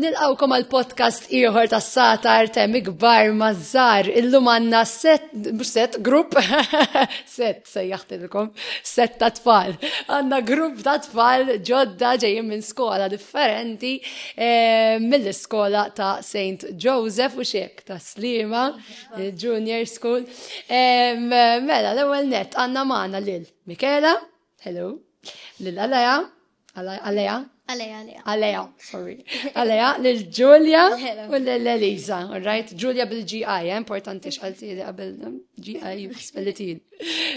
Nilqawkom għal podcast ieħor tas sata artem ikbar mażżar illum għandna set set grupp set sejjaħtilkom set ta' tfal. Għandna grupp ta' tfal ġodda ġejjin minn skola differenti eh, mill-iskola ta' St. Joseph u xiek ta' Slima. Junior School. Mela, l-ewwel net għandna magħna lil Mikela, hello, lil Aleja, Aleja, Aleja, Aleja, sorry. Aleja, lil Ġulja u lil Eliza, all right? Ġulja bil-GI, eh, importanti xalti li qabel GI spellitin.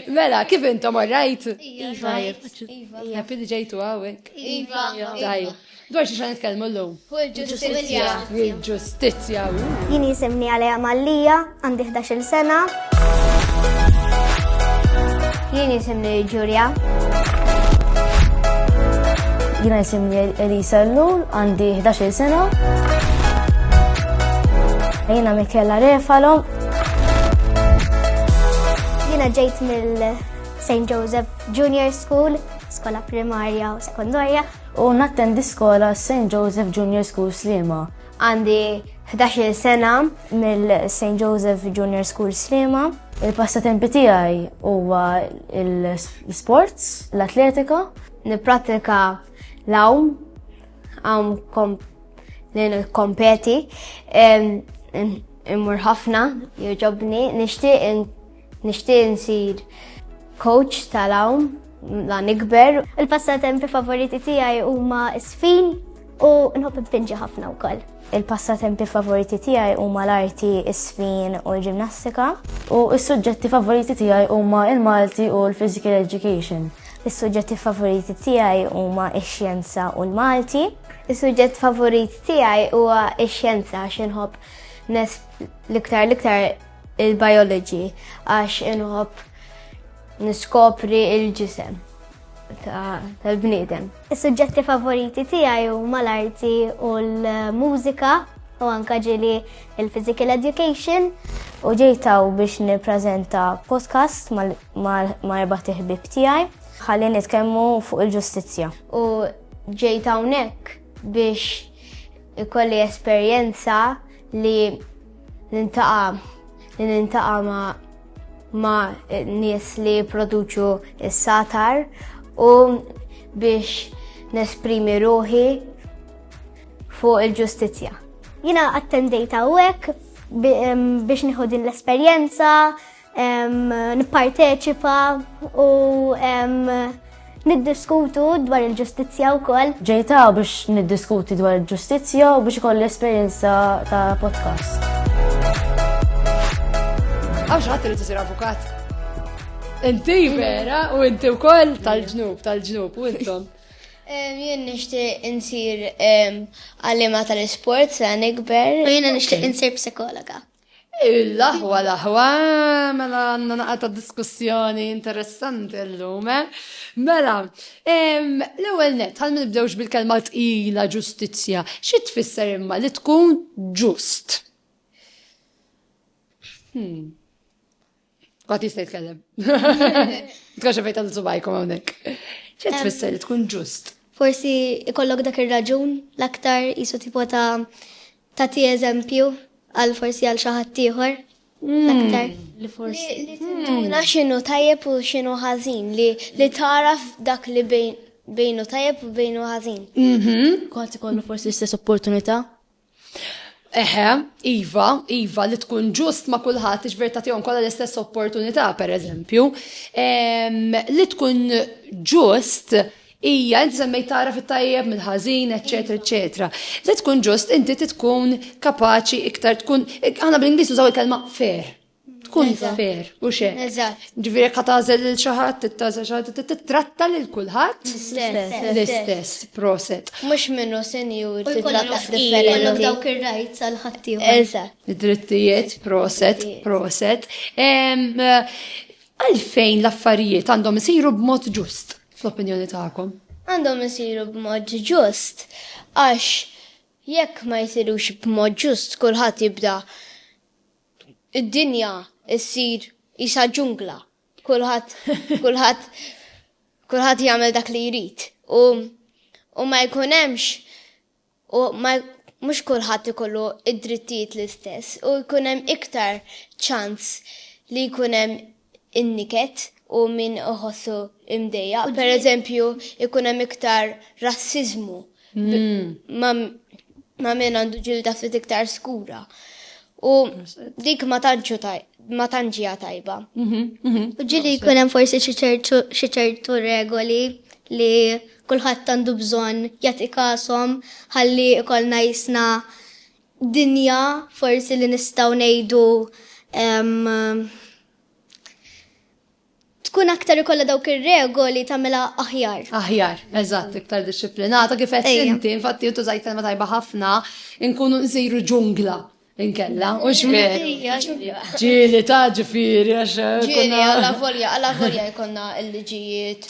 Mela, kif intom orrajt? Iva, iva. Happy li ġejtu għawek. Iva, iva. Dwar xi xan nitkellmu l-lum? Il-ġustizja. Il-ġustizja. Jini jisimni għalija Mallija, għandi 11 sena. Jini jisimni Ġurja. Jina jisimni Elisa Lul, għandi 11 sena. Jina Mikela Refalo, Jina ġejt mill St. Joseph Junior School, skola primarja u sekondarja. U nattendi skola St. Joseph Junior School Slima. Għandi 11 sena mill-St. Joseph Junior School Slima. Il-passatempi tiegħi huwa l-sports, l-atletika. Nippratika l-awm, għam li kompeti. Immur ħafna, joġobni, nixtieq nixtieq nsir coach tal-hawn la nikber. Il-passatempi favoriti tiegħi huma sfin u nħobb npinġi ħafna wkoll. Il-passatempi favoriti tiegħi huma l-arti, is-sfin u l-ġimnastika. U s-suġġetti favoriti tiegħi huma il-Malti u l-Physical Education. Is-suġġetti favoriti tiegħi huma x-xjenza u l-Malti. Is-suġġett favorit tiegħi huwa x-xjenza x'inħobb Nes l-iktar l-iktar il-biology għax inħobb niskopri il-ġisem tal-bniedem. Is-suġġetti favoriti tiegħi huma l-arti u l-mużika u anka ġili il-physical education. U ġejtaw biex nippreżenta podcast ma' erba' tiħbib tiegħi ħalli nitkellmu fuq il-ġustizzja. U ġejtaw nek biex ikolli esperjenza li nintaqa li nintaqa ma ma nies li produċu s-satar u biex nesprimi ruħi fuq il-ġustizja. Jina attendejta u biex nieħu din l-esperjenza, nipparteċipa u niddiskutu dwar il-ġustizzja wkoll. Ġejta biex niddiskuti dwar il-ġustizzja u biex ikolli esperjenza ta' podcast. Għaw xaħat li t-sir avukat. Inti vera u inti u koll tal-ġnub, tal-ġnub, u intom. Jien nishti insir għallima tal-sport sa' nikber. Jien nishti insir psikologa. L-aħwa l-aħwa, mela għandna naqa ta' diskussjoni interessanti llum. Eh? Mela, l-ewwel net, għal nibdewx bil-kelma tqila ġustizzja, xi tfisser imma li tkun ġust? Hmm. Għat jista' jitkellem. Tkaxa fejn tal subajkom hawnhekk. X'qed tfisser li tkun ġust? Forsi ikollok dak ir-raġun l-aktar jisu tipo ta' ta' ti eżempju għal forsi għal xi ħadd ieħor. Mm. L-aktar li forsi. Tinduna x'inhu tajjeb u x'inhu ħażin li li taraf dak li bejnu tajjeb u bejnu ħażin. Mhm. Kont ikollu forsi l-istess opportunità Eħe, iva, iva, li tkun ġust ma' kulħadd iġver ta' tihom kollha l-istess opportunità, per eżempju, li tkun ġust hija inti semmejt tara fit-tajjeb mill-ħażin, eċetera, eċetera. Li tkun ġust inti tkun kapaċi iktar tkun aħna bl-Ingliż nużaw il-kelma fair. tkun fair, u xe. Ġviri ka tazel lil xaħat, t-tazel xaħat, t-tratta lil kulħat. L-istess, proset. Mux minnu senjur, t-tratta differenti. Dawk il-rajt sal-ħatti. Eżat. Drittijiet, proset, proset. Għalfejn l-affarijiet għandhom isiru b'mod ġust, fl-opinjoni ta'kom? Għandhom isiru b'mod ġust, għax jekk ma jisirux b'mod ġust, kulħadd jibda' Id-dinja ssir qisha ġungla. Kulħadd kulħadd kulħadd jagħmel dak li jrid u u ma jkun hemmx u ma mhux kulħadd ikollu id-drittijiet l-istess u jkun hemm iktar ċans li jkun hemm in-niket u min iħossu mdejjaq. Pereżempju, ikun hemm iktar rassiżmu ma' min għandu ġilda ftit iktar skura. U dik ma tantx hija tajba. U ġieli jkun hemm forsi xi ċertu regoli li kulħadd għandu bżonn jagħti kasom ħalli jkollna qisna dinja forsi li nistgħu ngħidu tkun aktar ikollha dawk ir-regoli tagħmilha aħjar. Aħjar, eżatt, iktar dixxiplinata kif qed inti, infatti intu żajt kelma tajba ħafna, inkunu nsiru ġungla inkella, u xmer. Ġieli ta' ġifieri għax. Ġieli għala volja, għala volja jkollna l-liġijiet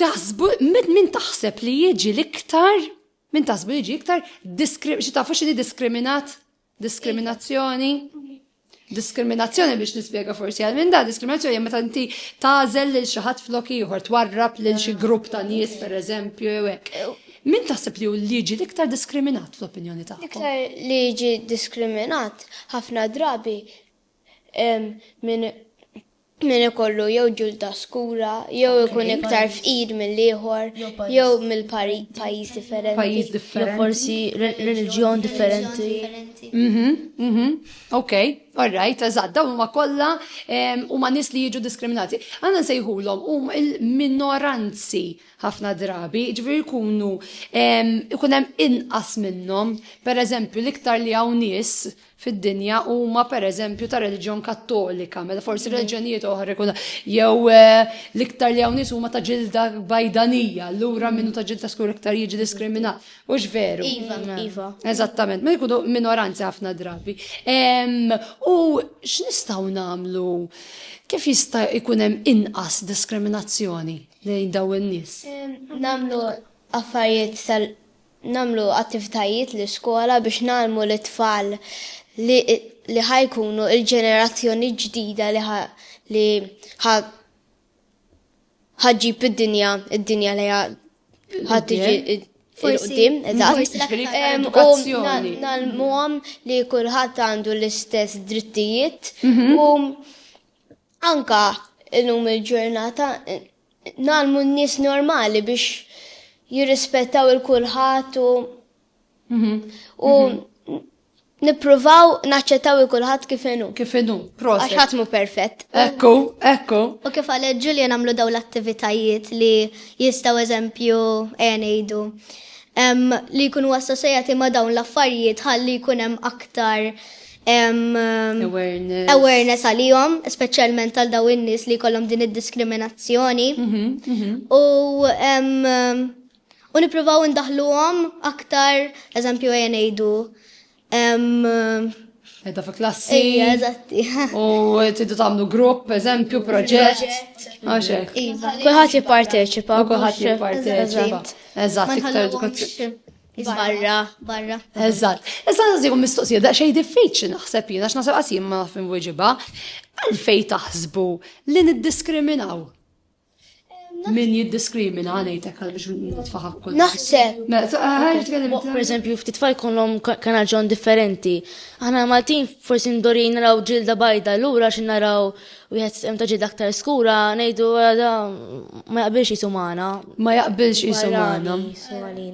Taħsbu min taħseb li jiġi l-iktar min taħsbu jiġi iktar xi tafu x'inhi diskriminat? Diskriminazzjoni? Diskriminazzjoni biex nispjega forsi għal minn da, diskriminazzjoni meta inti tażel lil xi ħadd flok ieħor twarrab lil xi grupp ta' nies pereżempju jew hekk. Min taħseb li hu liġi l-iktar diskriminat fl-opinjoni tagħkom? L-iktar liġi diskriminat ħafna drabi Hemm min min ikollu jew ġilda skura, jew ikun iktar fqir mill-ieħor, jew mill-pajjiż differenti. Pajjiż differenti. Jew forsi reliġjon differenti. Mhm, mhm. Ok, all right, eżatt, dawn huma kollha huma nies li jiġu diskriminati. Għandna nsejħulhom hum il-minoranzi ħafna drabi, ġifieri jkunu ikun hemm inqas minnhom, pereżempju l-iktar li hawn nies fid-dinja huma pereżempju ta' reliġjon Kattolika, meta forsi mhm. reliġjonijiet oħra jkun jew eh, l-iktar li hawn nies huma ta' ġilda bajdanija, allura mhm. minnu ta' ġilda skur iktar jiġi diskriminat. Hux veru. Iva, mhm. iva. Eżattament, ma jkunu minoranzi ħafna drabi. U x'nistgħu nagħmlu? Kif jista' jkun hemm inqas diskriminazzjoni lejn daw in-nies? Nagħmlu affarijiet tal nagħmlu attivitajiet l-iskola biex ngħallmu lit-tfal li li ħa jkunu l-ġenerazzjoni ġdida li ħa li ħa ħa ġġib id-dinja id-dinja li ħa ħa tiġi id- il-qudiem, eżatt. Em, U na- nalmuhom li kulħadd għandu l-istess drittijiet u anka illum il-ġurnata Ngħallmu n-nies normali biex jirrispettaw il kulħadd u mhm. u mhm. nippruvaw naċċettaw il kulħadd kif inhu. Kif inhu, proset. Għax ħadd mhu perfett. Ekku, ekku. U kif għal Ġulja nagħmlu daw l-attivitajiet li jistgħu eżempju għenejdu. Eh, li jkunu assosjati ma' dawn l-affarijiet ħalli jkun hemm aktar awareness. awareness għalihom, speċjalment għal daw in-nies li kollhom din id-diskriminazzjoni. Mhm, mhm. U u nippruvaw indaħluhom aktar, eżempju għajja ngħidu. Edha fi klassi. Ija, eżatti. U tiddu tagħmlu grupp, eżempju, proġett. Għaxek. Iva. Kulħadd jipparteċipa. Kulħadd jipparteċipa. Eżatt, iktar edukazzjoni. Barra, barra. Eżatt. Issa nżigu mistoqsija da xej diffiċli naħseb jiena x'naħseb qas jien ma nafhim wiġiba. Għalfej taħsbu li niddiskriminaw? Min jiddiskrimina għanejtek għal biex nitfaħak kol. Naħseb. Mela, per eżempju, ftit tfal kollhom kanal ġon differenti. Aħna Maltin forsi ndorin naraw ġilda bajda, lura xi naraw Wieħed stem ta' ġid aktar skura ngħidu da ma jaqbilx jisu magħna. Ma jaqbilx jisu magħna.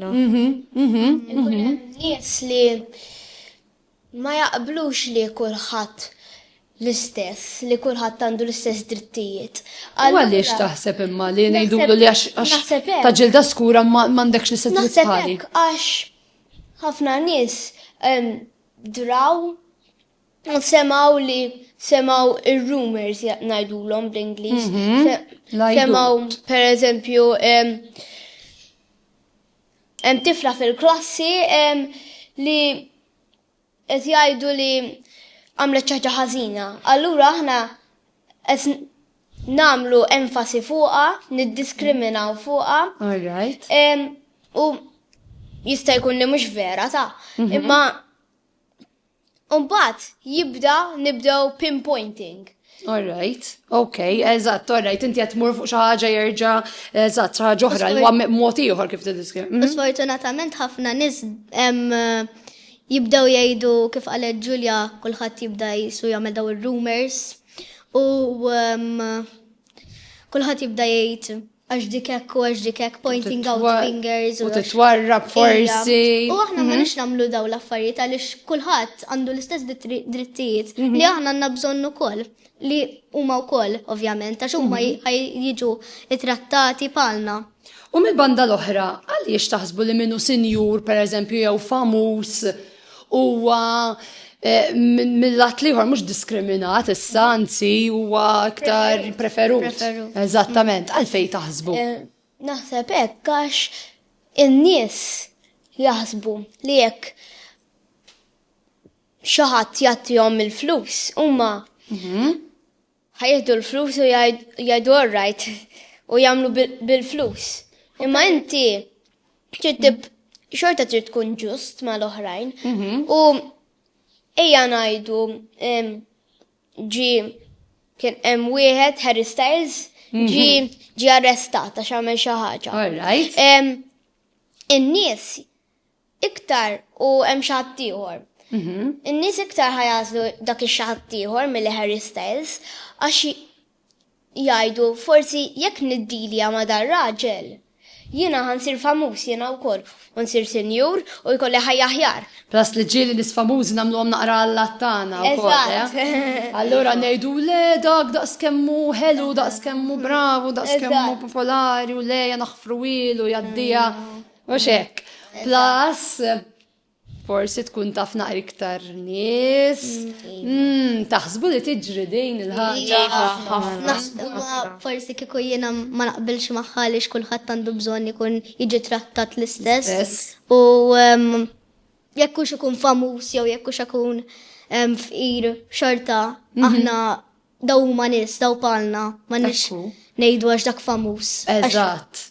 Mhm, mhm, mhm. Nies li ma jaqblux li kulħadd l-istess, li kulħadd għandu l-istess drittijiet. Għaliex taħseb imma li ngħidulu li għax ta' ġilda skura ma għandekx l-istess drittijiet. Naħseb għax ħafna nies draw Semgħu li semgħu ir-rumors ngħidulhom bl-Ingliż. Mhm, semgħu pereżempju hemm tifla fil-klassi li qed jgħidu li għamlet ċaġa ħażina. Allura aħna qed namlu enfasi fuqa, niddiskriminaw fuqa. All right. U jista' jkun li mhux vera ta' mhm. imma Umbat, jibda nibdew pinpointing. Alright, ok, eżatt, alright, inti qed tmur fuq xi ħaġa jerġa' eżatt xi ħaġa oħra li huwa mod ieħor kif tiddiskri. Mhm. Sfortunatament ħafna nies jibdew jgħidu kif qalet Ġulja kulħadd jibda jisu jagħmel daw ir-rumors u kulħadd jibda jgħid għax dik hekk u għax dik hekk pointing out fingers u titwarrab forsi. U aħna ma mhm. nix nagħmlu daw l-affarijiet għaliex kulħadd għandu l-istess drittijiet mhm. li aħna għandna bżonn ukoll li huma wkoll ovvjament għax huma mhm. jiġu ittrattati palna. U mill-banda l-oħra, għaliex taħsbu li minnu sinjur, per eżempju, jew famuż, huwa eh, mill-lat liħor mhux diskriminat issa anzi huwa aktar preferut. Eżattament, għalfej taħsbu. Eh, naħseb hekk għax in-nies jaħsbu li jekk xi ħadd jagħtihom il-flus huma mhm. Ħa jieħdu l-flus u jgħidu all right u jagħmlu bil-flus. Imma inti trid xorta trid tkun ġust mal-oħrajn mhm. u ejja ngħidu ġi kien hemm wieħed Harry Styles mhm. ġi ġi arrestata x'għamel xi ħaġa. All right. In-nies iktar u hemm xi ħadd ieħor. In-nies iktar ħa jagħżlu dak ix-xi ħadd ieħor milli Harry Styles għax jgħidu forsi jekk niddilja ma' dar-raġel, jiena ħa nsir famuż jiena wkoll u nsir sinjur u jkolli ħajja aħjar. Plus li ġieli nies famużi nagħmluhom naqra allat tagħna wkoll, eh? Allura ngħidu le dak daqs kemm hu ħelu, daqs kemm hu bravu, daqs kemm hu popolari u le ja naħfru ilu jgħaddiha. U xek, plus forsi tkun taf naqri iktar nies. Mm, taħsbu li tiġri din il-ħaġa. Naħsbu forsi kieku jiena ma naqbilx magħha li xkulħadd għandu bżonn ikun jiġi trattat l-istess. U jekk hux ikun famuż jew jekk hux ikun fqir xorta mhm. aħna daw huma nies daw palna ma nix ngħidu għax dak famuż. Eżatt.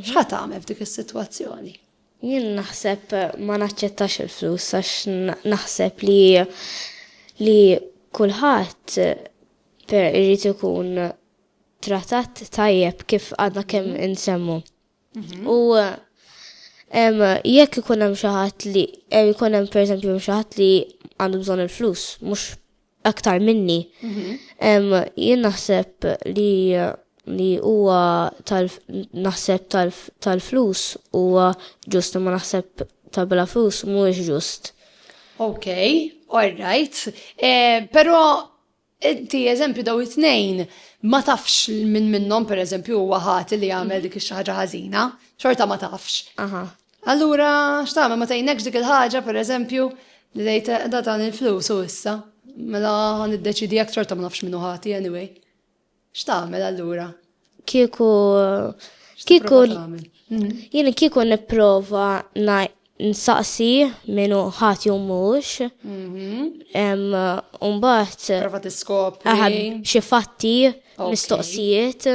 X'ħa tagħmel f'dik is-sitwazzjoni? Jien naħseb ma naċċettax il-flus għax naħseb li li kulħadd per irid ikun trattat tajjeb kif għadna kemm mhm. insemmu. Mhm. U jekk ikun hemm xi ħadd li jkun hemm pereżempju xi ħadd li għandu bżonn il-flus, mhux aktar minni. Jien naħseb li li huwa naħseb tal-flus huwa ġust ma naħseb ta' bla flus mhuwiex ġust. Ok, all right. Eh, Pero inti eżempju daw it-tnejn ma tafx minn minnhom pereżempju huwa ħati li jagħmel mhm. dik ix-xi ħaġa ħażina, xorta ma tafx. Allura, x'tagħmel ma tgħinekx dik il-ħaġa, pereżempju, li tgħid eh, da tagħni l-flus u issa, mela ħan iddeċidi jekk xorta ma nafx minnu ħati anyway. X'tagħmel allura? Kieku kieku mhm. jien kieku nipprova nsaqsi minnu ħati u mhux. Mhm. Umbagħad. Prova tiskop. Xi fatti, mistoqsijiet.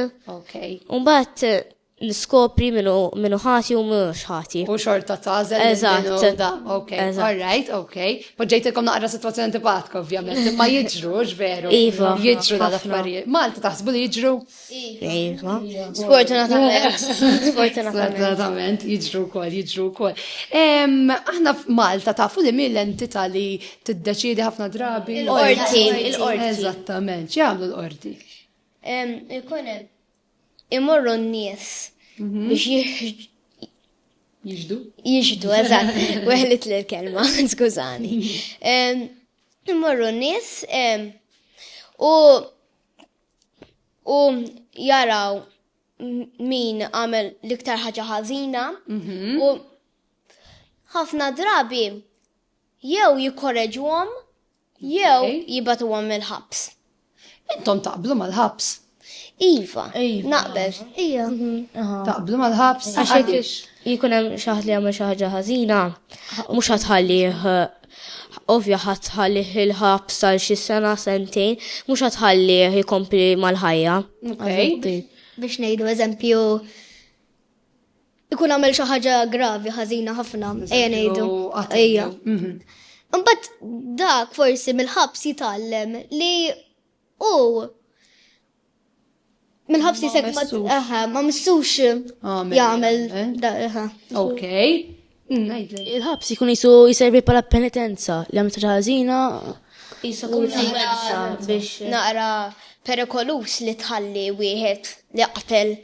Umbagħad Niskopri min hu min hu ħati u min mhux ħati. U xorta tagħżel minn din u Eżatt. da. Ok, Eżatt. all right, ok. Poġġejtilkom naqra sitwazzjoni antipatika ovvjament, imma jiġru, hux veru? Iva, Jiġru ħafna. dal-affarijiet. Malti taħsbu li jiġru? Iva. Sfortunatament. Sfortunatament. Sfortunatament, jiġru wkoll, jiġru wkoll. Em, Aħna f'Malta tafu li min l-entità li tiddeċiedi ħafna drabi. Il-qorti, il-qorti. Eżattament, x'jagħmlu l-qorti? Em, Ikun hemm imorru n-nies mhm. biex jieħġ. Jiġdu? Jiġdu, eżatt, weħlit l-kelma, skużani. Imorru n-nies u u jaraw min għamel liktar ħaġa ħażina mhm. u ħafna drabi jew jikkoreġuhom Jew jibgħatuhom mill-ħabs. Intom taqblu mal-ħabs? Iva, Iva. naqbel. Ija. Taqblu mal-ħabs? Għax hekk jkun hemm xi ħadd li jagħmel xi ħaġa ħażina, mhux ħadd ħallih ovvja ħadd ħallih il-ħabs għal xi sena sentejn, mhux ħadd ħallih jkompli mal-ħajja. Okej. Biex ngħidu eżempju ikun għamel xi ħaġa gravi ħażina ħafna, ejja ngħidu. Ejja. Mhm. Imbagħad dak forsi mill-ħabs jitgħallem li u mill-ħabs jisek ma missux jagħmel. Eh? Ok. Il-ħabs jkun qisu jservi bħala penitenza li għamilt ħaġa ħażina. Qisu kunsenza biex naqra perikoluż li tħalli wieħed li qatel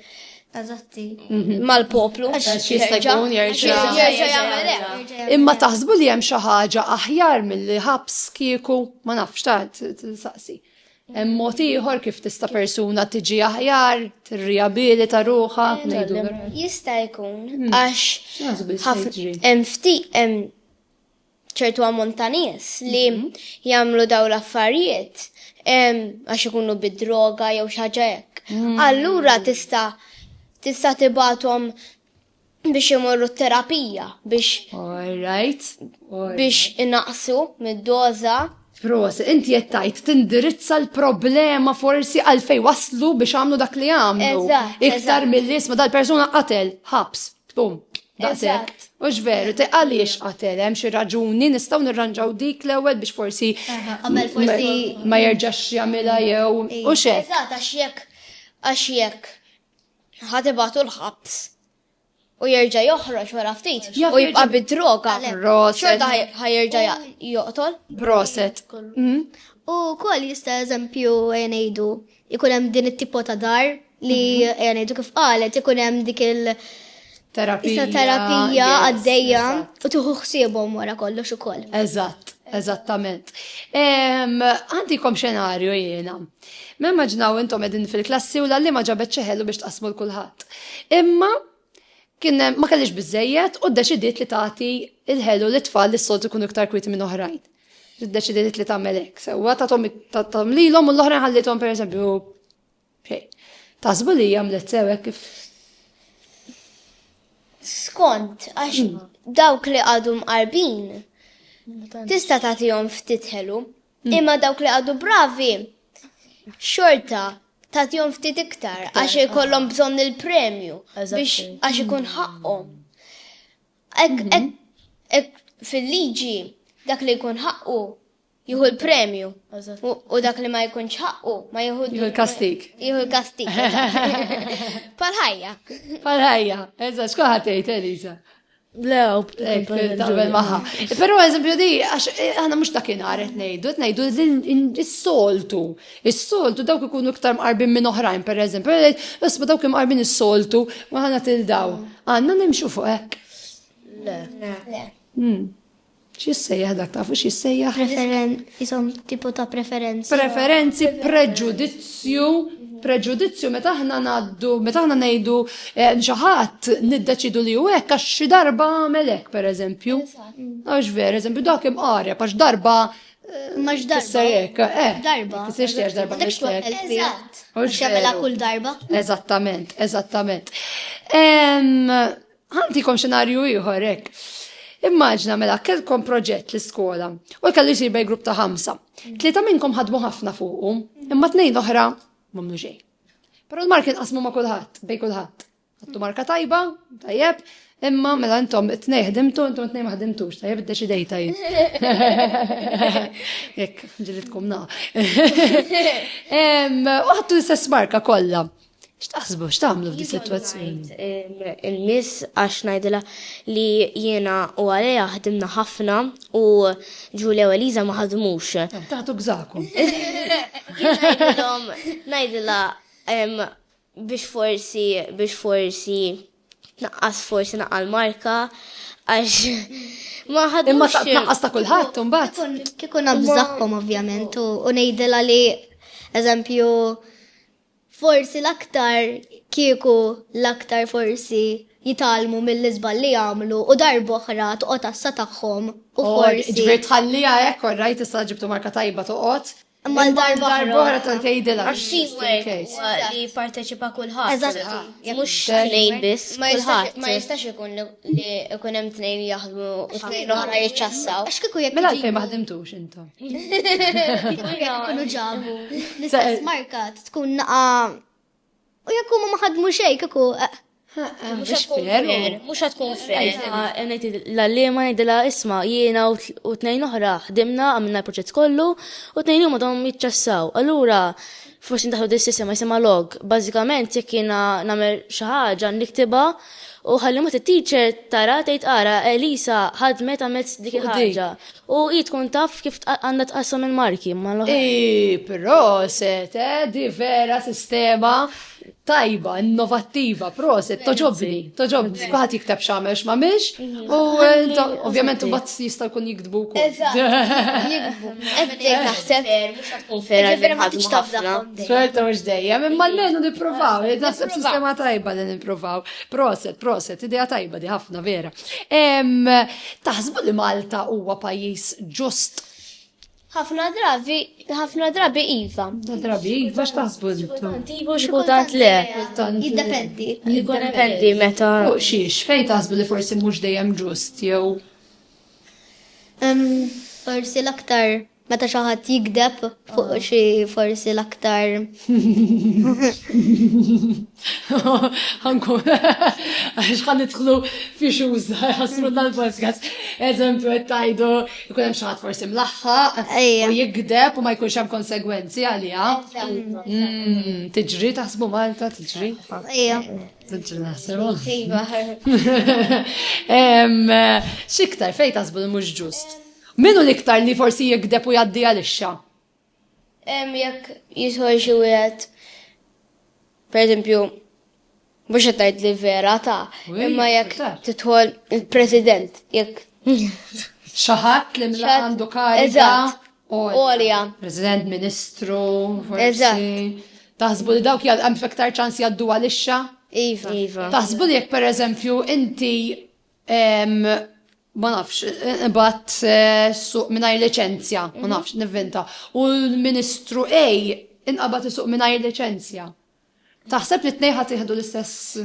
Eżatti. Mhm. Mal-poplu. Jista' jkun jerġa' Imma taħsbu li hemm xi ħaġa aħjar mill-ħabs kieku ma nafx ta' saqsi. Hemm mod ieħor kif tista' persuna tiġi aħjar, tirriabilita ruħha, ngħidu. Jista' jkun hmm. għax hemm ftit hemm ċertu ammont ta' nies li mhm. jagħmlu daw l-affarijiet għax ikunu bid-droga jew xi ħaġa hekk. Hmm. Allura tista' tista' tibatom Biex imorru t-terapija, biex. All right. Biex inaqsu mid-doża. Pros, inti qed tgħid tindirizza l-problema forsi għalfej waslu biex għamlu dak li għamlu. Iktar mill-isma dal-persuna qatel, ħabs, tbum. Daqshekk. U x'veru, te għaliex qatel hemm xi raġuni nistgħu nirranġaw dik l-ewwel biex forsi ma jerġax jagħmilha jew u x'hekk. Eżatt għax jekk għax jekk Ħa tibatu l-ħabs. U jerġa' joħroġ wara ftit u jibqa' bid-droga. Proset. Ħa jerġa' joqtol. Proset. Mm. U kol jista' eżempju ngħidu ikun hemm din it-tipo ta' dar li mhm. ngħidu kif qalet ikun hemm dik il- terapija. terapija għaddejja u tuħu xsiebhom wara kollox ukoll. Eżatt, eżattament. Għandikom xenarju jiena. Ma immaġinaw intom qegħdin fil-klassi u l-għalliema ġabet xi ħelu biex tqassmu l kulħadd. Imma kien ma kellix biżejjed u ddeċidiet li tagħti il-ħelu li tfal li s-soltu jkunu iktar kwiti minn oħrajn. Ddeċidiet li tagħmel hekk. Sewwa tagħtom lilhom u l-oħrajn ħallithom pereżempju xejn. Tasbu li għamlet sewek kif skont għax hmm. dawk li għadhom qarbin tista' tagħtihom ftit ħelu. Imma dawk li għadu bravi, xorta tagħtihom ftit iktar għax ikollhom bżonn il-premju biex għax ikun ħaqqhom. Mhm. Fil-liġi dak li jkun ħaqqu jieħu l-premju u dak li ma jkunx ħaqqu ma jieħu l-kastik. Jieħu l-kastik. Pal-ħajja. Pal-ħajja. Eżatt, xkuħat tgħid Elisa. Le, taqbel maħħa. Pero eżempju di, għax eh, għana mux dakin għaret nejdu, nejdu il-soltu. Il-soltu dawk ikunu ktar mqarbin minn oħrajn, per eżempju, isma dawk mqarbin il-soltu, maħna til-daw. Għanna nimxu fuq ek. Le. Le. Hmm. X'jissejjaħ dak, tafu x'jissejjaħ? Preferen, isom tipo ta' preferenza. Preferenzi, preġudizzju, preġudizzju meta aħna ngħaddu, meta aħna ngħidu eh, xi ħadd niddeċidu li hu hekk għax xi darba għamel hekk pereżempju. Għax vera, eżempju dak imqareb għax darba Max darba. Sejek, eh. Darba. Sejx tiex darba. Dekx waqt Eżatt. Xamela kull darba. Eżattament, eżattament. Ħantikom xenarju ieħor hekk. Immaġna mela kellkom proġett l-iskola u kellu jsir bej grupp ta' ħamsa. Tlieta minnkom ħadmu ħafna fuqu, imma tnejn oħra m'għamlu xejn. Però l-mark inqasmu ma' kulħadd, bej kulħadd. Għattu marka tajba, tajjeb, imma mela intom it-tnej ħdimtu, intom it-tnej ma ħdimtux, tajjeb id-deċidejta jien. Jekk, ġilitkom na. U ħattu l-istess marka kollha. X'taħsbu x'tagħmlu f'di sitwazzjoni? Il-miss għax ngħidilha li jiena u għalija ħdimna ħafna u Ġulja u Eliza ma ħadmux. Taħtu gżakom. Ngħidilha biex forsi biex forsi tnaqqas forsi naqal marka għax ma ħadmux. Imma tnaqqas ta' kulħadd imbagħad. Kikun nabżaħħom ovvjament u ngħidilha li eżempju Forsi l-aktar kieku l-aktar forsi jitgħallmu mill-iżball li għamlu u darb'oħra toqgħod għassa tagħhom u forsi. Jiġifieri tħalliha hekk orrajt issa ġibtu marka tajba toqgħod. Imma darb'oħra tant tgħidilha. Għax teamwork huwa li jipparteċipa kulħadd. Eżatt. Mhux tnejn biss. Kulħadd. Ma jistax ikun li ikun hemm tnejn jaħdmu u tnejn oħra jiċċassaw. Għax kieku jekk. Mela għalfejn ma ħdimtux intom? Kunu ġabu. L-istess marka tkun naqa. U jekk huma ma ħadmu xejn kieku. Eh, eh, eh, mhux tkun fair, mhux tkun fair. L-għalliema ngħidilha isma' jiena u tnejn oħra ħdimna għamilna l-proġett kollu u tnejn huma dom jiċċassaw. Allura F'waqt li ndaħħlu din is-sistema jisimha log, bażikament jekk jiena nagħmel xi ħaġa niktibha u ħalli mbagħad it-teacher tara tgħid ara Elisa ħadmet għamilt dik il-ħaġa u hi tkun taf kif għandha tqassam il-marki mal-oħrajn. Hi proset eh, di vera sistema tajba, innovattiva, proset, toġobni, toġobni. Kuħat jikteb xamel xmamilx, u ovvjament u bat jista kun jiktbu ku. Jiktbu. Eddek naħseb. Ġifiri ma tix tabda. Xorta mux dejjem, imma l-menu niprofaw, naħseb sistema tajba li niprofaw. Proset, proset, ideja tajba di ħafna vera. Taħsbu li Malta huwa pajis ġust Ħafna drabi, ħafna drabi iva. Ħafna drabi iva x'taħsbu intom? Iva xi kultant le. Jiddependi. Jiddependi meta. Fuq xiex, fejn taħsbu li forsi mhux dejjem ġust jew Forsi l-aktar meta xi ħadd jikdeb fuq xi forsi l-aktar Għanku, għax għan nitħlu fi xuz, għasru dal-podcast, eżempju, għettajdu, jkun hemm xaħat forsi mlaħħa, u jikdeb u ma jkunx hemm konsegwenzi għalija. Mm, tiġri taħsbu Malta, tiġri? Ija. Tiġri naħsbu. Iva. Xiktar, fej taħsbu li mux ġust? Minu liktar li forsi jikdeb u jaddi għalixxa? Jekk jidħol xi wieħed, pereżempju, mhux qed tgħid li vera ta', imma jekk tidħol il-President, jekk. Xaħat li mla għandu kariga. Olja. President, Ministru, forsi. Taħsbu li dawk jgħal fektar ċans jgħaddu għalixxa? Iva. iva. Taħsbu li jekk pereżempju inti ma nafx, bat eh, suq mingħajr liċenzja, ma mhm. nafx, nivvinta. U l-Ministru A inqabad suq mingħajr liċenzja. Taħseb li t-nej ħat jihdu l-istess.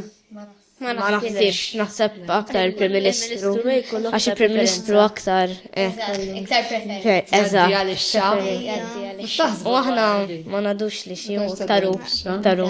Ma naħsibx, naħseb aktar il-Prim Ministru. Għax il-Prim Ministru aktar. Eh. Iktar preferenza. Eżatt. U aħna ma nadux li xie, taru, taru.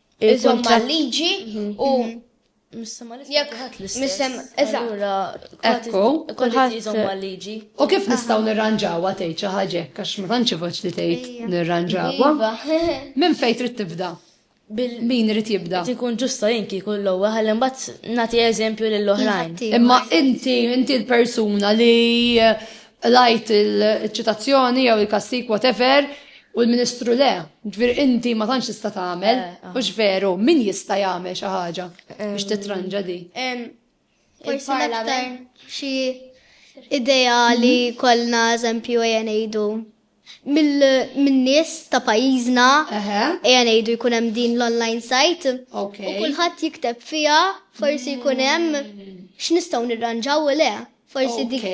Iżom mal-liġi u Jekk ħadd l-istess. Allura, ekku, kulħadd iżom mal-liġi. U kif nistgħu nirranġawha tgħid xi ħaġa għax ma tantx ivoġġ li tgħid nirranġawha. Iva. Minn fejn trid tibda? Min irid jibda? Tikun ġusta jien kieku l-ewwel ħalli mbagħad nagħti eżempju lill-oħrajn. Imma inti inti l-persuna li Qlajt il-ċitazzjoni jew il-kastik whatever u l-Ministru le. Ġifieri inti ma tantx tista' tagħmel, eh, eh. mhux veru, min jista' jagħmel xi ħaġa biex titranġa di. Forsi aktar xi ideali mhm. kollna eżempju ejja ngħidu mill-nies ta' pajjiżna, ejja ngħidu jkun hemm din l-online site, u kulħadd jikteb fiha forsi jkun hemm x'nistgħu nirranġaw u le. Forsi dik.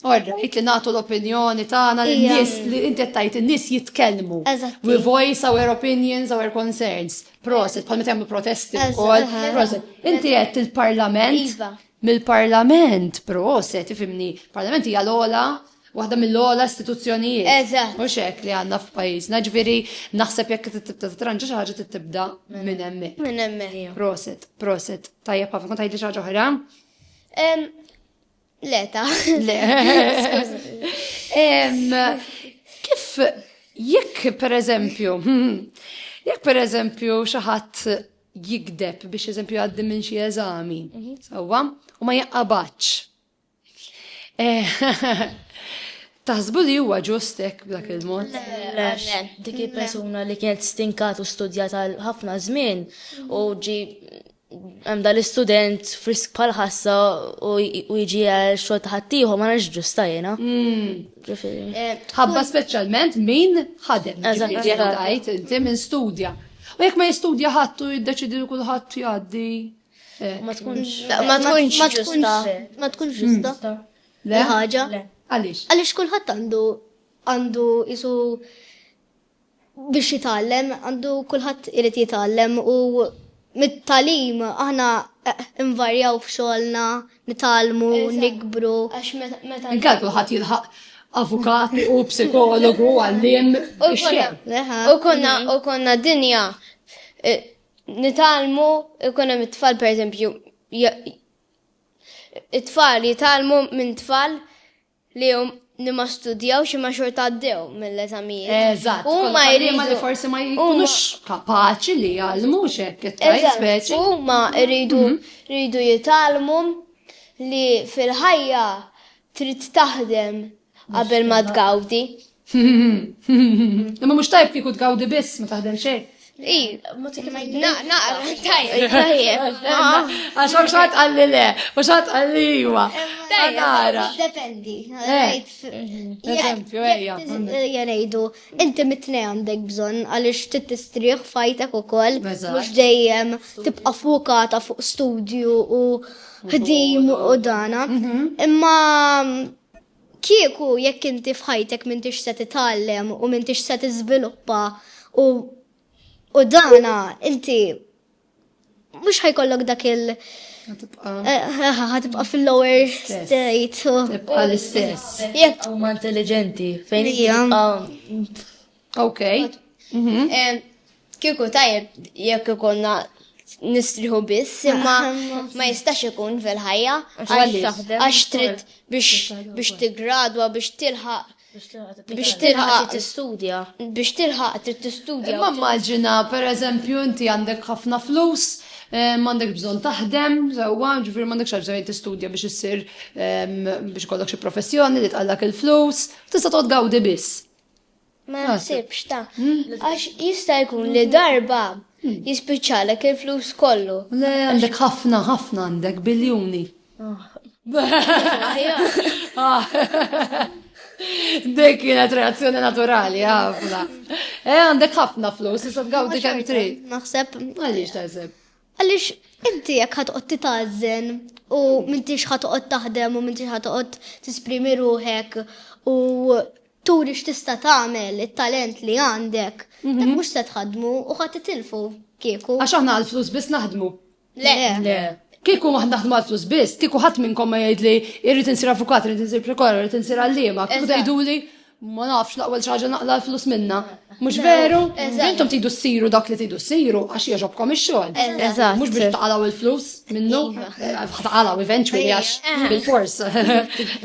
Orrejt li nagħtu l-opinjoni tagħna lin-nies li inti tajt in-nies jitkellmu. We voice our opinions, our concerns. Proset, bħal meta jagħmlu protesti wkoll. Proset. Inti qed il-Parlament. Iva. Mill-Parlament, proset, ifimni. Parlament hija l-ola waħda mill-ogħla istituzzjonijiet. Eżatt. Mhux hekk li għandna f'pajjiżna, ġifieri naħseb jekk tibda titranġa xi ħaġa tibda minn hemmhekk. Minn hemmhekk. Proset, proset. Tajjeb ħafna kont tgħidli xi ħaġa oħra? Le ta. Le. Kif jekk pereżempju, jekk pereżempju xi ħadd jikdeb biex eżempju għaddi minn xi eżami, mhm. sewwa, u ma jaqabadx Taħsbu li huwa ġust hekk b'dak il-mod? Dik il-persuna li kienet stinkat u studjat għal ħafna żmien u ġi hemm dal-istudent frisk bħal ħassa u jiġi għal xogħol ta' ħaddieħor ma nafx ġusta jiena. Hmm. Eh, ħabba speċjalment min ħadem. Eżatt. Inti minn studja. U jekk ma jistudja ħadd u jiddeċidi li kulħadd jgħaddi. Eh, ma tkunx. Ma tkunx ġusta. Ma tkunx hmm. ġusta. Le ħaġa. Għaliex? Għaliex kulħadd għandu għandu isu biex jitgħallem, għandu kulħadd irid jitgħallem u mit-talim aħna eh, invarjaw f'xogħolna, nitalmu, nikbru. Għax meta. Inkal kulħadd jilħaq avukat u psikologu għallim. U konna, u konna dinja eh, Nitgħallmu jkun hemm it-tfal pereżempju it-tfal jitgħallmu minn tfal li hum li ma studjawx imma xorta għaddew mill-eżamijiet. Eżatt, u ma jridu li forsi ma jkunux kapaċi li jgħallmu xek, speċi. U ma jridu mhm. jgħallmu li fil-ħajja Trid taħdem qabel ma tgawdi. Imma mhux tajb kieku tgawdi biss ma taħdem xejn. I, naqra, tajjeb, tajjeb. Għax ma xaħat għalli le, ma xaħat għalli jwa. Tajjeb, dependi. Eżempju, ejja. Janejdu, Inti mitni għandek bżonn għaliex trid tistrieħ fajtek ukoll mhux dejjem tibqa' fukata fuq studju u ħdim u dana. Mhm. Imma kieku jekk inti f'ħajtek m'intix se titgħallem u m'intix se tiżviluppa u u dana inti Mhux ħajkollok dak il- ħatibqa fil-lower state. Tibqa l-istess. Jekk. Huma intelligenti. Fejn hija. Ok. Mhm. Kieku tajjeb jekk ikonna nistriħu biss, imma ma jistax ikun fil-ħajja, għax trid biex tigradwa, biex tilħaq Biex tilħaq tistudja. Biex tilħaq trid tistudja. Ma immaġina, per eżempju, inti għandek ħafna flus, eh, m'għandek bżonn taħdem, sewwa, ġifieri m'għandek xi bżonn tistudja biex issir ehm, biex kollok xi professjoni li tqallak il-flus, tista' toqgħod gawdi biss. Ma naħsibx ta' hmm? għax jista' jkun li darba hmm. jispiċċalek il-flus kollu. Le għandek ħafna ħafna għandek biljuni. Dek kienet reazzjoni naturali, għafna. E, għandek ħafna flus, jisab għawdi kem tri. Naħseb. Għalix taħseb. Għalix, inti jek ħatqot titazzen u mintix ħatqot taħdem u mintix ħatqot tisprimi ruħek u turi x'tista' tagħmel it-talent li għandek, mhm. mhux se tħadmu u ħadd titilfu kieku. Għax aħna għall-flus biss naħdmu. Le. Le. Kieku waħd naħdmu għal flus biss, kieku ħadd minnkom ma jgħid li irrid insir avukat, irrid insir prokor, irrid insir għalliema, kieku tgħiduli ma nafx laqwa ċaġa naqla l-flus minna. Mux veru? Intom tidu s-siru dak li tidu s-siru għax jieġobkom il-xol. Eżat. Mux biex taqalaw il-flus minnu. Iva. Eh, taqalaw eventually għax eh. bil-fors.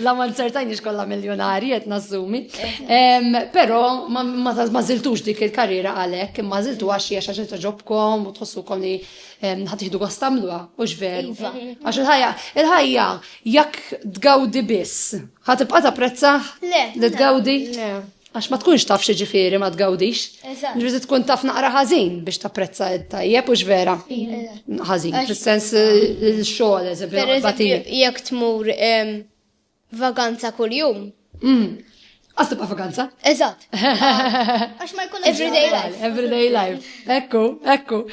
La ma nsertajni xkolla miljonari jett nazzumi. Eh. Pero ma ziltux dik il-karriera għalek, ma ziltu għax jiex għax ġobkom u tħossu kom li ħad iħdu gost tagħmluha, u x'veru. Iva. Għax il-ħajja, il-ħajja jekk tgawdi biss, ħad tibqa' tapprezza li tgawdi. Għax ma tkunx taf xi ġifieri ma tgawdix. Ġifieri tkun taf naqra ħażin biex tapprezza tajjeb u x'vera. Ħażin, fis-sens il-xogħol, eżempju. Jekk tmur Vaganza kuljum. Mm. Għas tibqa' vaganza. Eżatt. Għax ma jkun everyday life. Everyday life. Ekku, ekku.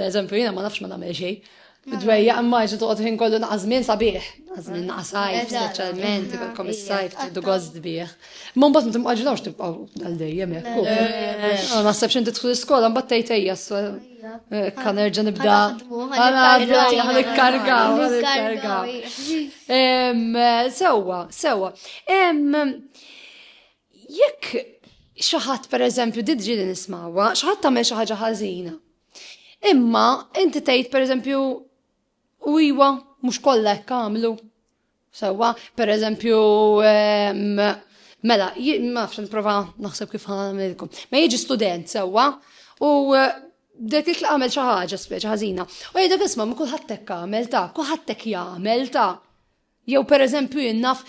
Eżempju, jiena ma nafx ma nagħmel xejn. Dwejja, imma ġi toqgħod ħin kollu naqażmin sabiħ. Għażmin naqasaj, speċjalment, ikolkom is-sajf tiddu gost bih. Ma mbagħad ma timqaġilawx tibqgħu għal dejjem hekk. Naħseb x'inti tħu skola mbagħad tgħid ejja Kan nerġa nibda. Għan ikkargaw. Sewa, sewa. Jekk xaħat per eżempju, didġi li nismawa, xaħat tamel xaħġa ħazina. Imma, inti tgħid per eżempju, u iwa, mux kollha kamlu. Sewwa, per eżempju, mela, ma nafx nipprova naħseb kif ħanamilkom. Ma jiġi student sewwa u dek li għamel xi ħaġa speċi ħażina. U jgħidek isma' ma kulħadd hekk għamel ta', kulħadd hekk jagħmel ta'. Jew per eżempju jinnaf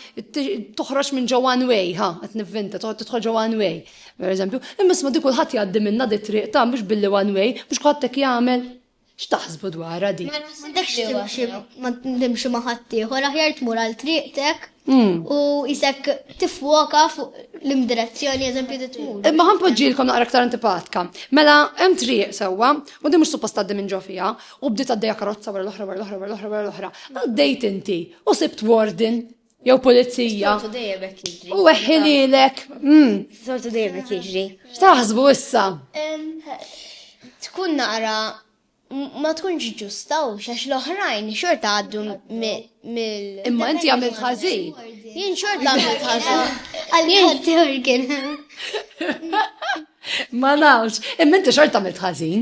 toħroġ minn ġo one way, ha, qed nivvinta, toħroġ tidħol ġo one way. Per eżempju, imma isma' dik kulħadd jgħaddi minna di triq ta' mhux billi one way, mhux kulħadd hekk jagħmel. X'taħsbu dwarha di? Ma naħsibx li waħda. Ma nimxi ma' ħaddieħor, aħjar tmur għal triqtek u isek tifwoka fuq l-imdirezzjoni eżempju li tmur. Imma ħan poġġilkom naqra aktar antipatka. Mela hemm triq sewwa u din mhux suppost tgħaddi minn ġo fiha u bdiet għaddejja karozza wara l-oħra wara l-oħra wara l-oħra wara l-oħra. Għaddejt inti u sibt warden jew pulizija. Sortu dejjem hekk jiġri. U weħħililek. Mm. Sortu dejjem hekk jiġri. X'taħsbu issa? Tkun naqra ma tkunx ġusta u xax l-oħrajn xorta għaddu mill. Imma inti għamil ħażin. Jien xorta għamil ħażin. Għal-jien Ma nafx, imma inti xorta għamil ħażin.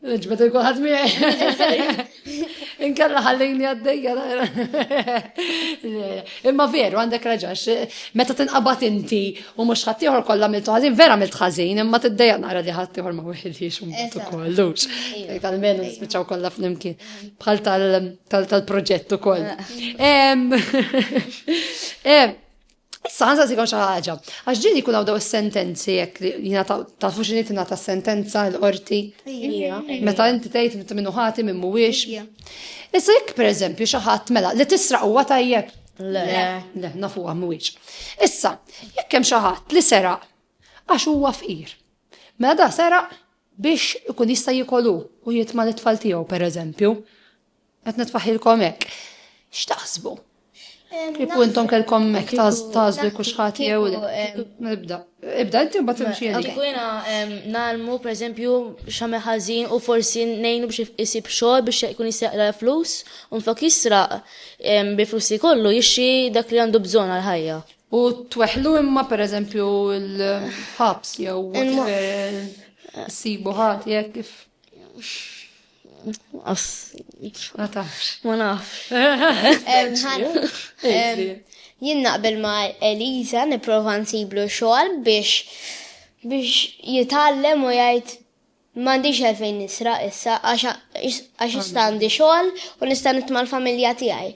Nġbet il-kulħadd miegħi. Inkella ħallini għaddejja. Imma veru għandek raġax, meta tinqabad inti u mhux ħaddieħor kollha mill ħażin, vera mill ħażin, imma tiddejja nara li ħaddieħor ma wieħedix u mbutu kollux. Tal-menu spiċċaw kollha flimkien bħal tal-proġett ukoll. Issa għanza sikom xi ħaġa. Għax ġieli jkun għawdaw daw sentenzi jekk li jina tafu xi nitina ta' sentenza l-qorti. Meta inti tgħid inti minnu ħati minn mhuwiex. Issa jekk pereżempju xi ħadd mela li tisraq huwa tajjeb. Le, le, nafu mhuwiex. Issa, jekk hemm xi ħadd li seraq għax huwa fqir. Mela da seraq biex ikun jista' jikolu u jitma' l-tfal tiegħu pereżempju. Qed nitfaħilkom hekk. X'taħsbu? Kieku intom kelkom hekk tażlu jkun xħati jew nibda. Ibda inti mbagħad imxi għalik. Kieku jiena nagħlmu pereżempju x'għamel ħażin u forsi ngħinu biex isib xogħol biex ikun jistaqla flus u nfak jisraq bi flus li kollu jixxi dak li għandu bżonn għal ħajja. U tweħlu imma pereżempju l-ħabs jew sibu ħati jekk kif. Ma tafx. Ma nafx. Jien naqbel ma Eliza niprofa nsiblu xogħol biex biex jitgħallem u jgħid m'għandix għalfejn nisra issa għax issa għandi xogħol u nista' nitma' l-familja tiegħi.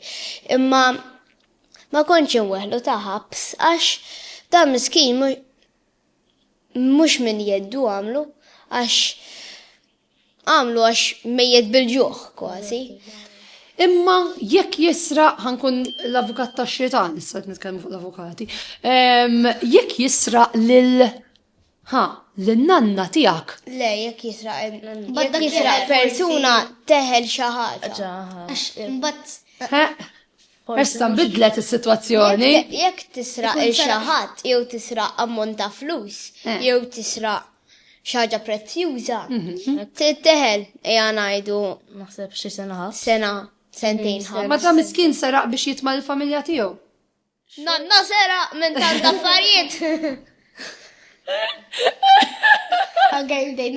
Imma ma kontx inweħlu ta' ħabs għax dan miskin mhux minn jeddu għamlu għax Għamlu għax mejjet bil-ġuħ kważi. Imma jekk jisra, ħankun l-avukat ta' xitan, issa nitkellmu fuq l-avukati, jekk jisra lil ha, l-nanna tijak. Le, jekk jisra jekk jisra persuna teħel xaħġa. Issa bidlet is-sitwazzjoni. Jekk tisra il xaħat, jew tisra ammont ta' flus, eh. jew tisra xaġa prezzjuża. Mhm. Titteħel, eja najdu. Naħseb xi sena ħaf. Sena, sentejn ħaf. Ma ta' miskin seraq biex jitma' l-familja tiegħu. Nanna sera minn tant affarijiet. Għagħaj bdejn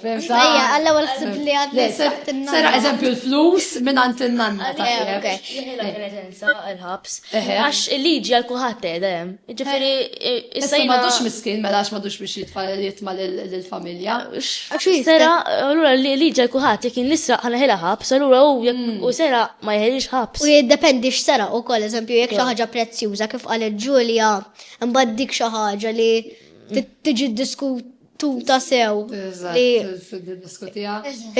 Fimta? Ejja, għalla għal ħsib li għad li sebt il-nanna. Sera eżempju l-flus minn għant il-nanna. Ok. Jħela penetenza il-ħabs. Għax il-liġi għal kuħat edem. Ġifiri, issa jina. Madux miskin, mela għax madux biex jitfall jitma l-familja. Sera, għallura liġi għal kuħat, jekin nisra għana ħela ħabs, għallura u mm. u sera ma jħelix ħabs. U jiddependi x'sera u koll, eżempju, jek xaħġa prezzjuża kif għal ġulja mbagħad dik xaħġa li tiġi diskut tuta sew li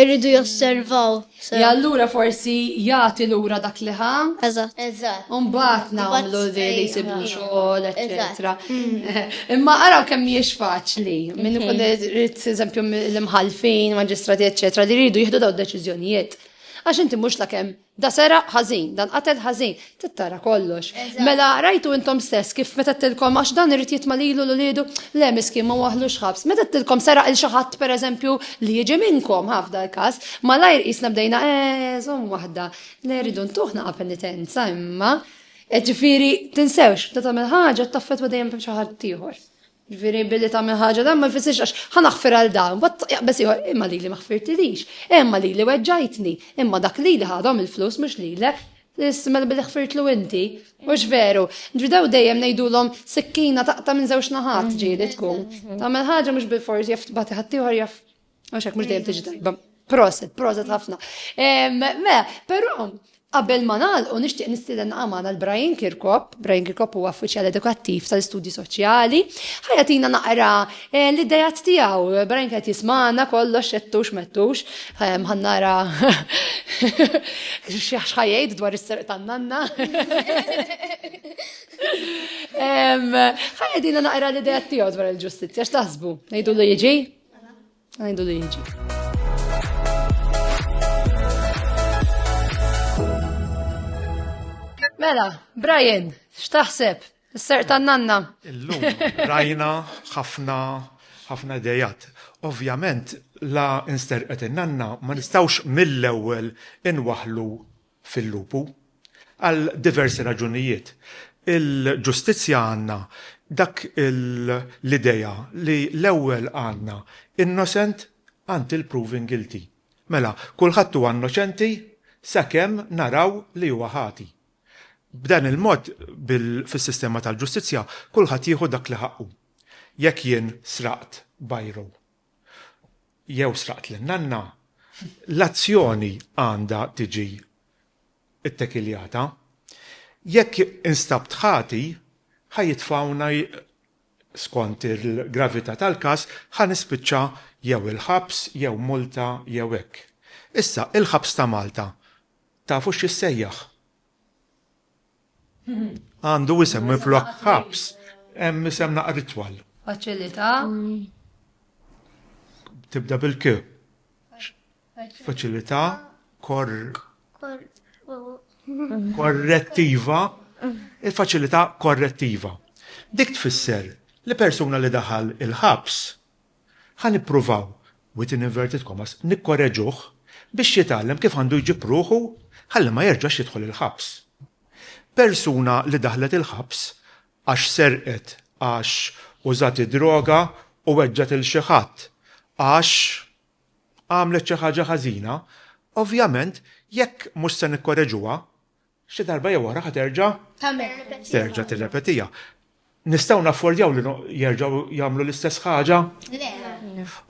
irridu josservaw. Ja allura forsi jagħti lura dak li ħa. Eżatt. Eżatt. Umbagħad nagħmlu li li jsibu xogħol, eċetera. Mm. Imma araw kemm mhijiex faċli. Min ikun mhm. irid eżempju l-imħalfin, maġistrati, eċetera, li jridu jieħdu daw deċiżjonijiet. Għax inti mhux la kemm Da seraq ħażin, dan qatel ħażin, tittara kollox. Mela rajtu intom stess kif meta tilkom għax dan irid jitma' lilu l uliedu, le miskin ma waħlux ħabs. Meta tilkom seraq il xi ħadd pereżempju li jiġi minnkom, ha f'dal każ, malajr qisna bdejna eh, żomm waħda, le rridu ntuh naqa' penitenza imma. E ġifieri tinsewx, meta tagħmel ħaġa taffetwa dejjem xi ħadd ieħor. Ġviri billi ta' ħaġa dan ma jfissirx għax ħanaħfir għal dan, bat jaqbes ieħor imma li li maħfirtilix, imma li li weġġajtni, imma dak li li ħadhom il-flus mhux lilek, ismel billi ħfirtlu inti, mhux veru. Ġviri daw dejjem ngħidulhom sikkina taqta' minn żewġ naħat ġieli tkun. Tagħmel ħaġa mhux bil-forsi jaf tbati ħaddieħor jaf Għax hekk mhux dejjem tiġi tajba. Proset, proset ħafna. Me, però Qabel ma nagħlqu nixtieq nistieden għamana l-Brian Kirkop, Brian Kirkop huwa uffiċjal edukattiv tal-istudji soċjali, ħajatina naqra eh, l-idejat tiegħu. Brian qed jismana kollox xettux mettux, ħannara xħajjajt dwar is-serq tan-nanna. Ħajatina naqra l-idejat tiegħu dwar il-ġustizzja, x'taħsbu? Ngħidu li jiġi? Ngħidu li Mela, Brian, x'taħseb? Is-ser tan-nanna. Illum rajna ħafna ħafna dejat. Ovvjament, la insterqet in-nanna ma nistawx mill-ewwel inwaħlu fil-lupu, għal diversi raġunijiet. Il-ġustizzja għandna dak l-idea li l-ewwel għandna innocent until proven guilty. Mela, kulħadd huwa innoċenti sakemm naraw li huwa ħati. B'dan il-mod, fis-sistema tal-ġustizzja, kulħadd jieħu dak li ħaqqu. Jekk jien sraqt biro, jew sraqt lil nanna, l-azzjoni għandha tiġi ttekiljata. Jekk instabt ħati, ħa jitfgħuna, skont il-gravità tal-każ, ħa nispiċċa jew il-ħabs jew multa jew hekk. Issa, il-ħabs ta' Malta tafu x'jissejjaħ? Għandu isem minn flok ħabs, hemm isem naqra ritwal. Faċilità. Tibda bil-k. Faċilità kor korrettiva, il-faċilità korrettiva. Dik tfisser li persuna li daħal il-ħabs Ħa nippruvaw, within inverted commas, nikkoreġuh biex jitgħallem kif għandu jġib ruħu ħalli ma jerġax jidħol il-ħabs. Persuna li daħlet il-ħabs għax serqet, għax użat id-droga u weġġgħet 'il xi ħadd, għax għamlet xi ħaġa ħażina, ovvjament jekk mhux se nikkoreġuha, Xi darba jew oħra ħa terġa'. Tagħmilha. Terġa' tirrepetiha. Nistgħu naffordjaw li jerġgħu jagħmlu l-istess ħaġa? Le.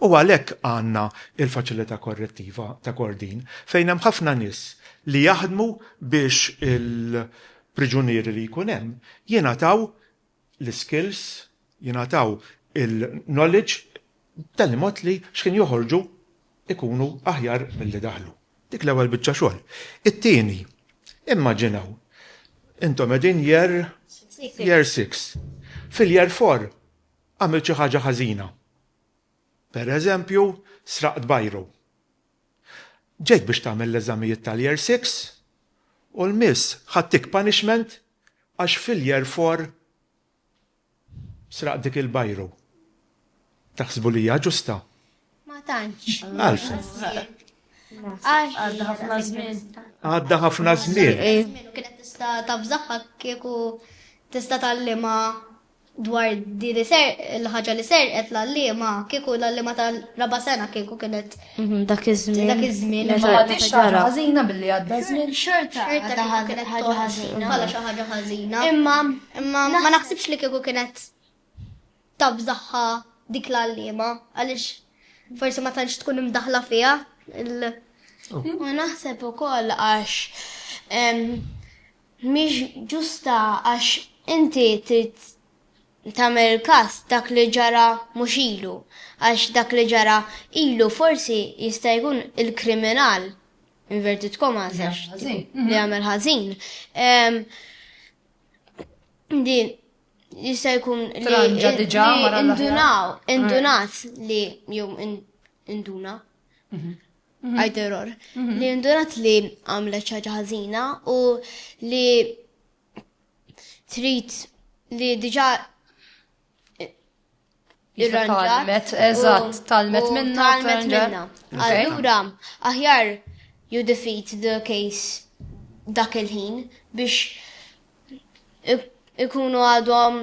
U għalhekk għandna l-faċilità korrettiva ta' Kordin fejn hemm ħafna nies li jaħdmu biex il-priġunieri li jkun hemm jingħataw l-iskills, jingħataw il-knowledge b'tali mod li x'ħin joħorġu jkunu aħjar milli daħlu. Dik l-ewwel biċċa xogħol. It-tieni, immaġinaw intom qegħdin year year six. Fil-year four għamilt xi ħaġa ħażina. Pereżempju, sraqt biro. Ġejt biex tagħmel l-eżamijiet tal-year six u l-miss ħadtik punishment Għax fil-year four sraqt dik il-biro. Taħsbu li hija ġusta? Ma tantx. Għalfejn? Għadda ħafna żmien. Għadda ħafna żmien. Kienet tista' tafżaħħa kieku tista' tgħallimha dwar din il-ħaġa li serqet l-għalliema, kieku l-għalliema tal-raba' sena kieku kienet mhm, dak iż-żmien. Dak iż-żmien. Ma għadix ħaġa ħażina billi għadda żmien. Xorta xorta kienet ħaġa ħażina. Bħala xi ħaġa ħażina. Imma imma ma naħsibx li kieku kienet tabżaħħa dik l-għalliema għaliex forsi ma tantx tkun imdaħla fiha il- U naħseb ukoll għax mhix ġusta għax inti trid tagħmel każ dak li ġara mhux ilu għax dak li ġara ilu forsi jista' jkun il-kriminal, inverted commas, għax li għamel ħażin, din jista' jkun li indunaw, indunat li jew induna. Għajderor, mhm. li indurat li għamlet ċaġa ħażina u li trid li diġa Talmet, eżatt, talmet minna. Talmet minna. Allura, aħjar you defeat the case dak il-ħin biex ikunu għadhom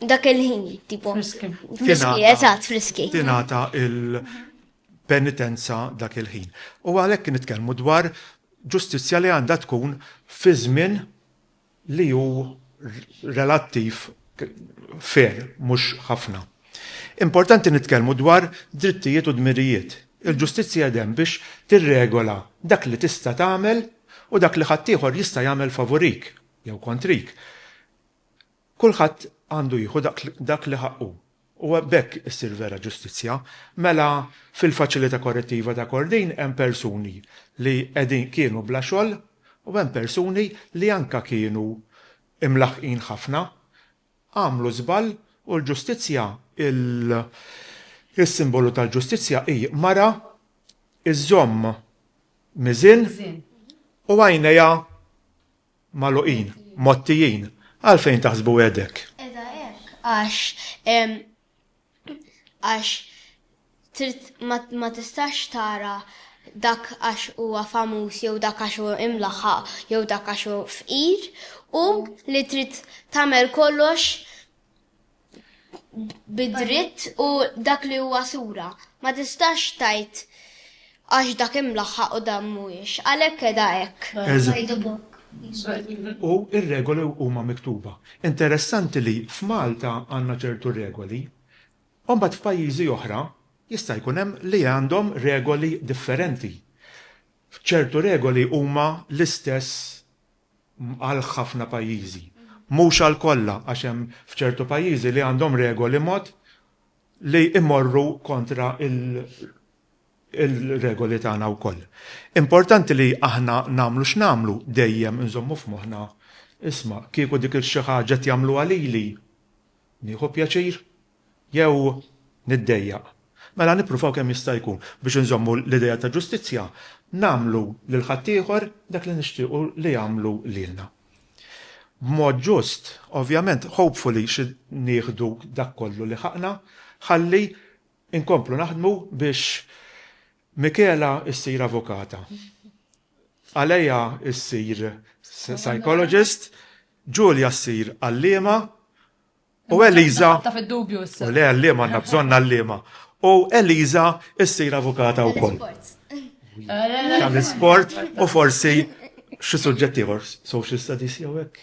dak il-ħin, tipo. Friski. Friski, eżatt, friski. Tinata il-penitenza dak il-ħin. U għalhekk nitkellmu dwar ġustizzja li għandha tkun fi żmien li hu relattiv fer, mhux ħafna. Importanti nitkellmu dwar drittijiet u dmirijiet. Il-ġustizzja dem biex tirregola dak li tista' tagħmel u dak li ħaddieħor jista' jagħmel favorik. Jew kontrik. Kulħadd għandu jieħu dak li ħaqqu. U b'hekk issir vera ġustizzja. Mela, fil-Faċilità Korrettiva ta' Kordin hemm persuni li qegħdin kienu bla xogħol u hemm persuni li anke kienu imlaħħqin ħafna għamlu żball u l-ġustizzja, is-simbolu tal-ġustizzja hi mara żżomm miżien u għajnejha magħluqin, mgħottijin. Għalfejn taħsbu hekk? Qiegħda hekk għax għax trid ma ma tistax tara dak għax huwa famuż jew dak għax hu imlaħħaq jew dak għax hu fqir u li trid tagħmel kollox bid-dritt u dak li huwa sura. Ma tistax tgħid Għax dak imlaħħaq u dan mhuwiex. Għalhekk qiegħda hekk. Eż. U r-regoli huma miktuba. Interessanti li f'Malta għandna ċertu regoli, u mbagħad f'pajjiżi oħra jista' jkun hemm li għandhom regoli differenti. Ċertu regoli huma l-istess għal ħafna pajjiżi. Mhux għal kollha għax hemm f'ċertu pajjiżi li għandhom regoli mod li jmorru kontra il-regoli tagħna wkoll. Importanti li aħna nagħmlu x'nagħmlu dejjem inżommu f'moħħna, isma' kieku dik il-xi ħaġa qed jagħmluha lili, nieħu pjaċir jew niddejjaq? Mela nippruvaw kemm jista' jkun biex inżommu l-idea ta' ġustizzja, nagħmlu lil ħaddieħor dak li nixtiequ li jagħmlu lilna. B'mod ġust, ovvjament, hopefully xi nieħdu dak kollu li ħaqna ħalli nkomplu naħdmu biex Michela issir avukata, Alea ssir psychologist, Julia ssir għalliema U Eliza. Ta' fid-dubju issa. U le għallim għandna bżonn għallima. U Eliza issir avukata wkoll. Tal-isport u forsi xi suġġett ieħor social studies jew hekk.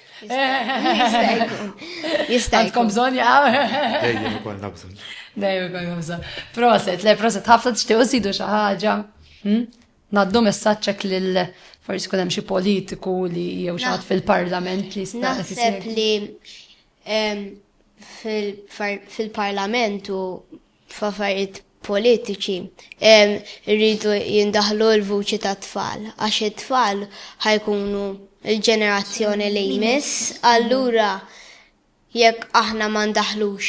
Jista' jkun bżonn jaqgħu. Dejjem ikollna bżonn. Dejjem ikollna bżonn. Proset, le proset ħafna tixtiequ sidu xi ħaġa. Hmm? Naddu messaġġek lil forsi kun hemm xi politiku li jew xi fil-parlament li Naħseb li fil-parlament u f'affarijiet politiċi rridu jindaħlu l-vuċi ta' tfal, għax it-tfal ħajkunu l-ġenerazzjoni li jmiss, allura jekk aħna ma ndaħlux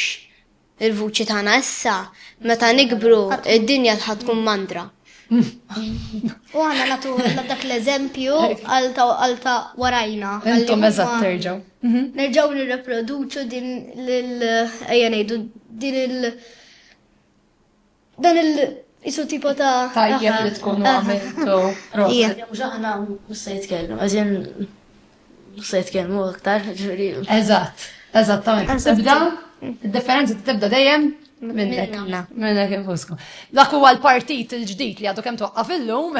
Il-vuċi tagħna issa, meta nikbru, id-dinja ħa tkun mandra. U għana natu dak l-eżempju għalta warajna. Intom eżat terġaw. Mhm. Nerġaw nirreproduċu din l-ejja nejdu din il- Dan il isu tipo ta' tajjeb li tkun għamiltu. Proset. Mhux aħna mhux se jitkellmu, għażin mhux se jitkellmu aktar, ġifieri. Eżatt, eżattament. Tibda, id-differenza tibda dejjem minnek. Minnek infuskom. Dak huwa l-partit il-ġdid li għadu kemm twaqqaf illum.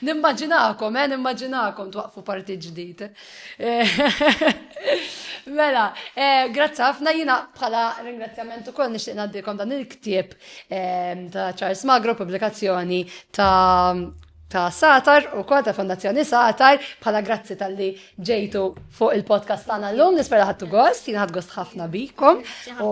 Nimmaġinakom, eh, nimmaġinakom twaqfu partit ġdid. Mela, eh, grazzi ħafna jina bħala ringrazzjament ukoll nixtieq ngħaddikom dan il-ktieb eh, ta' Charles Magro, pubblikazzjoni ta' ta' Satar u kol ta' Fondazzjoni Satar bħala grazzi tal-li ġejtu fuq il-podcast tagħna llum nispera ħadtu gost, jien ħadd gost ħafna bikom u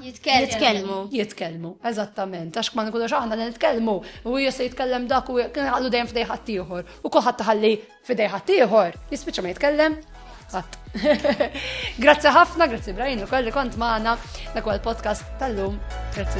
Jitkellmu. Jitkellmu, eżattament. Għax ma nkunux aħna li nitkellmu u hija se jitkellem dak u kien għallu dejjem f'dej ħaddieħor. U kulħadd taħalli f'dej ħaddieħor, jispiċċa ma jitkellem. Ħadd. Grazzi ħafna, grazzi Brian ukoll li kont magħna dak podcast tal-lum. Grazzi.